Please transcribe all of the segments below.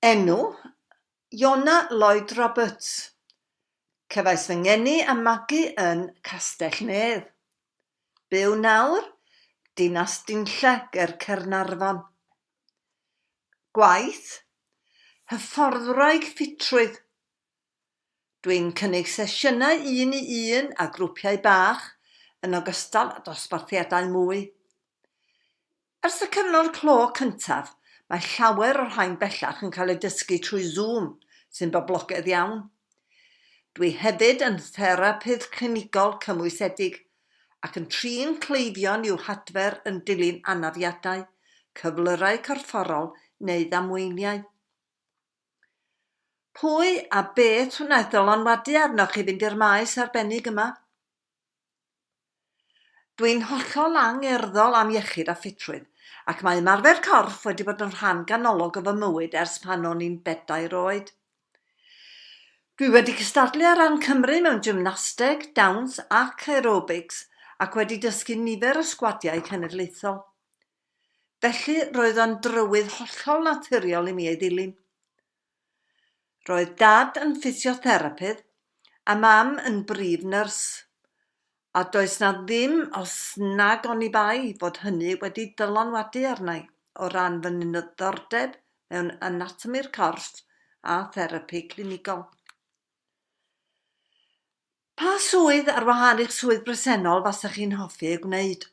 Enw, Iona Lloyd Roberts. Cefais fy ngeni a magu yn Castell-nedd. Byw nawr, Dinas Dinlle ger Caernarfon. Gwaith, Hyfforddwraig ffitrwydd, Dwi'n cynnig sesiynau un i un a grwpiau bach, yn ogystal â dosbarthiadau mwy. Ers y cyfnod clo cyntaf, mae llawer o'r rhain bellach yn cael eu dysgu trwy Zoom, sy'n boblogaidd iawn. Dwi hefyd yn therapydd clinigol cymwysedig ac yn trin cleifion i'w hadfer yn dilyn anafiadau, cyflyrau corfforol neu ddamweiniau. Pwy a beth wnaeth ddylanwadu arnoch i fynd i'r maes arbennig yma? Dwi'n hollol angerddol am iechyd a ffitrwydd, ac mae ymarfer corff wedi bod yn rhan ganolog o fy mywyd ers pan o'n i'n bedair oed. Dwi wedi cystadlu ar ran Cymru mewn gymnasteg, dawns ac aerobics, ac wedi dysgu nifer o sgwadiau cenedlaethol. Felly, roedd o'n drywydd hollol naturiol i mi ei ddilyn. Roedd Dad yn ffisiotherapydd a Mam yn brif nyrs, a does 'na ddim os nag oni bai fod hynny wedi dylanwadu arna'i o ran fy niddordeb mewn anatomi'r corff a therapi clinigol. Pa swydd ar wahân i'ch swydd bresennol fasech chi'n hoffi ei gwneud?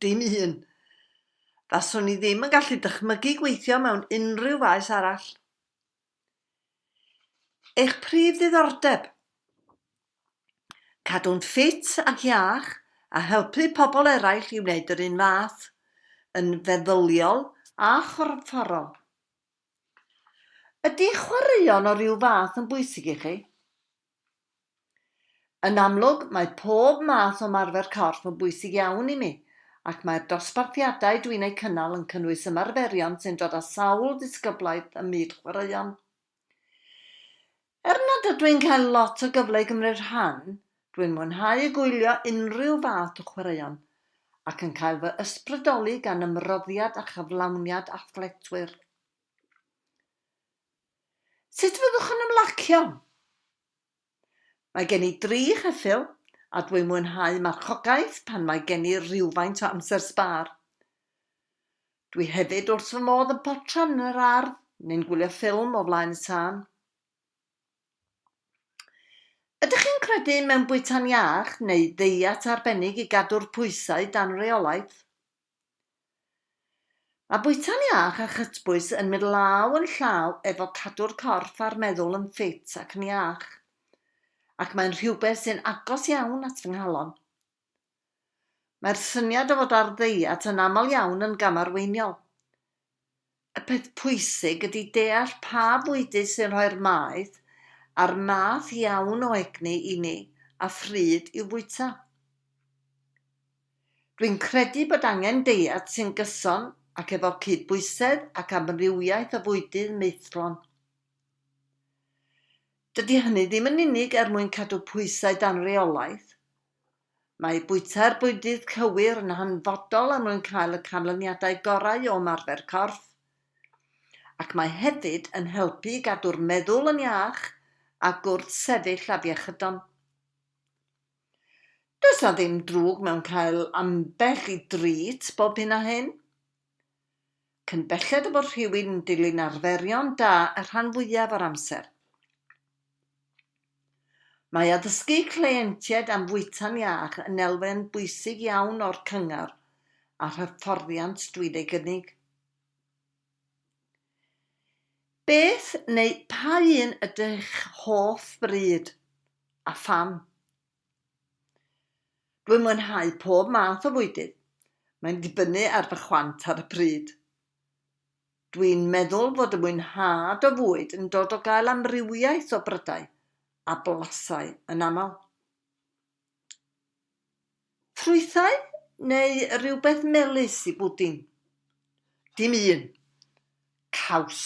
Dim un. Faswn i ddim yn gallu dychmygu gweithio mewn unrhyw faes arall. Eich prif ddiddordeb? Cadw'n ffit ac iach a helpu pobl eraill i wneud yr un fath, yn feddyliol a chorfforol. Ydy chwaraeon o ryw fath yn bwysig i chi? Yn amlwg, mae pob math o ymarfer corff yn bwysig iawn i mi, ac mae'r dosbarthiadau dwi'n eu cynnal yn cynnwys ymarferion sy'n dod â sawl disgyblaeth ym myd chwaraeon. Er nad ydw i'n cael lot o gyfle i gymryd rhan, dwi'n mwynhau y gwylio unrhyw fath o chwaraeon, ac yn cael fy ysbrydoli gan ymroddiad a chyflawniad athletwyr. Sut fyddwch yn ymlacio? Mae gen i dri cheffyl a dwi'n mwynhau marchogaeth pan mae gen i rywfaint o amser sbâr. Dwi hefyd wrth fy modd yn potran yn yr ardd neu'n gwylio ffilm o flaen y tân. Ydych chi'n credu mewn bwyta'n iach neu ddeiet arbennig i gadw'r pwysau dan reolaeth? Mae bwyta'n iach a chytbwys yn mynd law yn llaw efo cadw'r corff a'r meddwl yn ffit ac yn iach, ac mae'n rhywbeth sy'n agos iawn at fy nghalon. Mae'r syniad o fod ar ddeiet yn aml iawn yn gamarweiniol. Y peth pwysig ydy deall pa fwydydd sy'n rhoi'r maeth a'r math iawn o egni i ni a phryd i'w fwyta. Dwi'n credu bod angen deiet sy'n gyson ac efo cyd-bwysedd ac amrywiaeth o fwydydd maethlon. Dydy hynny ddim yn unig er mwyn cadw pwysau dan reolaeth, Mae bwyta'r bwydydd cywir yn hanfodol er mwyn cael y canlyniadau gorau o ymarfer corff, ac mae hefyd yn helpu i gadw'r meddwl yn iach a gwrth-sefyll afiechydon. Does 'na ddim drwg mewn cael ambell i drît bob hyn a hyn. Cyn belled â bod rhywun yn dilyn arferion da y rhan fwyaf o'r amser, mae addysgu cleientiaid am fwyta'n iach yn elfen bwysig iawn o'r cyngor a'r hyfforddiant dwi'n ei gynnig. Beth neu pa un ydy'ch hoff fryd, a pham? Dwi'n mwynhau pob math o fwydydd, mae'n dibynnu ar fy chwant ar y pryd. Dwi'n meddwl fod y mwynhad o fwyd yn dod o gael amrywiaeth o brydau a blasau yn aml. Ffrwythau neu rywbeth melys i bwdin? Dim un. Caws.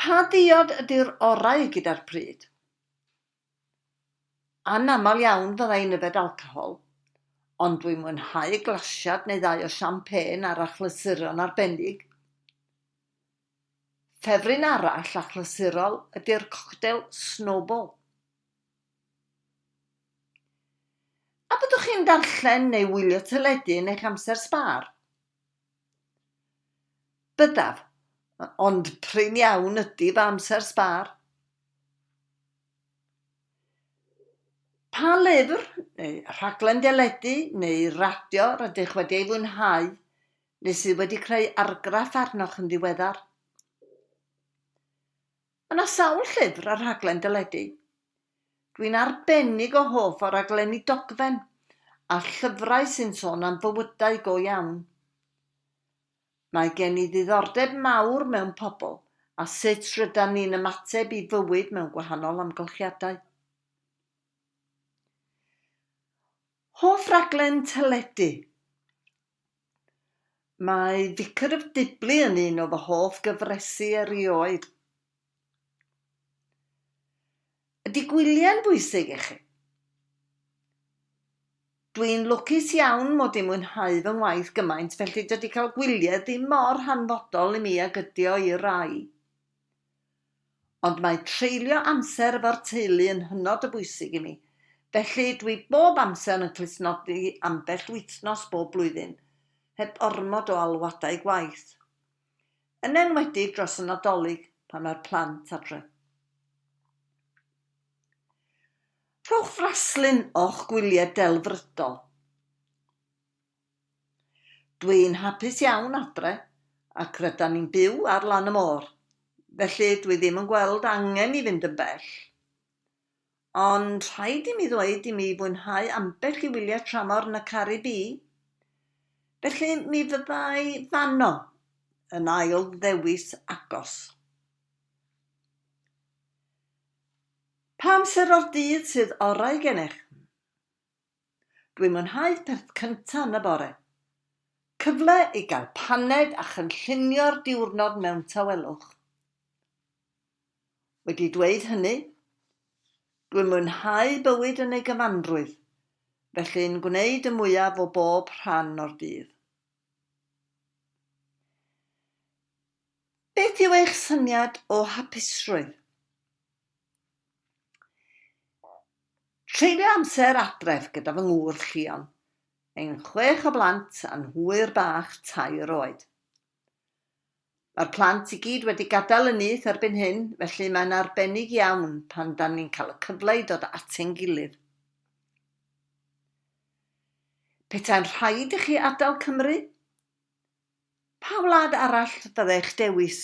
Pa ddiod ydy'r orau gyda'r pryd? Anaml iawn fydda i'n yfed alcohol, ond dwi'n mwynhau glasiad neu ddau o champagne ar achlysuron arbennig. Ffefryn arall achlysurol ydy'r coctel Snowball. A byddwch chi'n darllen neu wylio teledu yn eich amser sbâr? Byddaf, ond prin iawn ydy fy amser sbâr. Pa lyfr, neu rhaglen deledu, neu radio rydych wedi ei fwynhau, neu sydd wedi creu argraff arnoch yn ddiweddar? Yna sawl llyfr a rhaglen deledu. Dwi'n arbennig o hoff o raglenni dogfen a llyfrau sy'n sôn am fywydau go iawn. Mae gen i ddiddordeb mawr mewn pobl a sut rydan ni'n ymateb i fywyd mewn gwahanol amgylchiadau. Hoff raglen teledu? Mae Vicar of Dibley yn un o fy hoff gyfresi erioed. Ydy gwyliau'n bwysig i chi? Dwi'n lwcus iawn mod i'n mwynhau fy ngwaith gymaint felly dydy cael gwyliau ddim mor hanfodol i mi ag ydy o i rai. Ond mae treulio amser efo'r teulu yn hynod o bwysig i mi, felly dwi bob amser yn clustnodi ambell wythnos bob blwyddyn, heb ormod o alwadau gwaith. Yn enwedig dros y Nadolig pan mae'r plant adre. Rhowch fraslun o'ch gwyliau delfrydol. Dwi'n hapus iawn adre ac rydan ni'n byw ar lan y môr, felly dwi ddim yn gweld angen i fynd yn bell. Ond rhaid i mi ddweud i mi fwynhau ambell i wyliau tramor yn y Caribî, felly mi fyddai fanno yn ail ddewis agos. Pa amser o'r dydd sydd orau gennych? Dwi'n mwynhau perth cynta yn y bore. Cyfle i gael paned a chynllunio'r diwrnod mewn tawelwch. Wedi dweud hynny, dwi'n mwynhau bywyd yn ei gyfanrwydd, felly'n gwneud y mwyaf o bob rhan o'r dydd. Beth yw eich syniad o hapusrwydd? Treulio amser adref gyda fy ngŵr Llion, ein chwech o blant a'n hwyr bach tair oed. Mae'r plant i gyd wedi gadael y nyth erbyn hyn, felly mae'n arbennig iawn pan dan ni'n cael y cyfle i dod at ein gilydd. Petai'n rhaid i chi adael Cymru? Pa wlad arall fyddech dewis,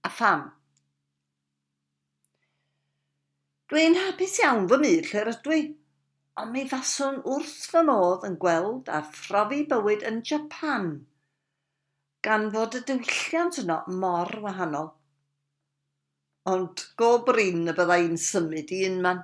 a pham? Dw i'n hapus iawn fy myd lle rydw i, ond mi faswn wrth fy modd yn gweld a phrofi bywyd yn Japan, gan fod y diwylliant yno mor wahanol. Ond go brin y bydda i'n symud i unman.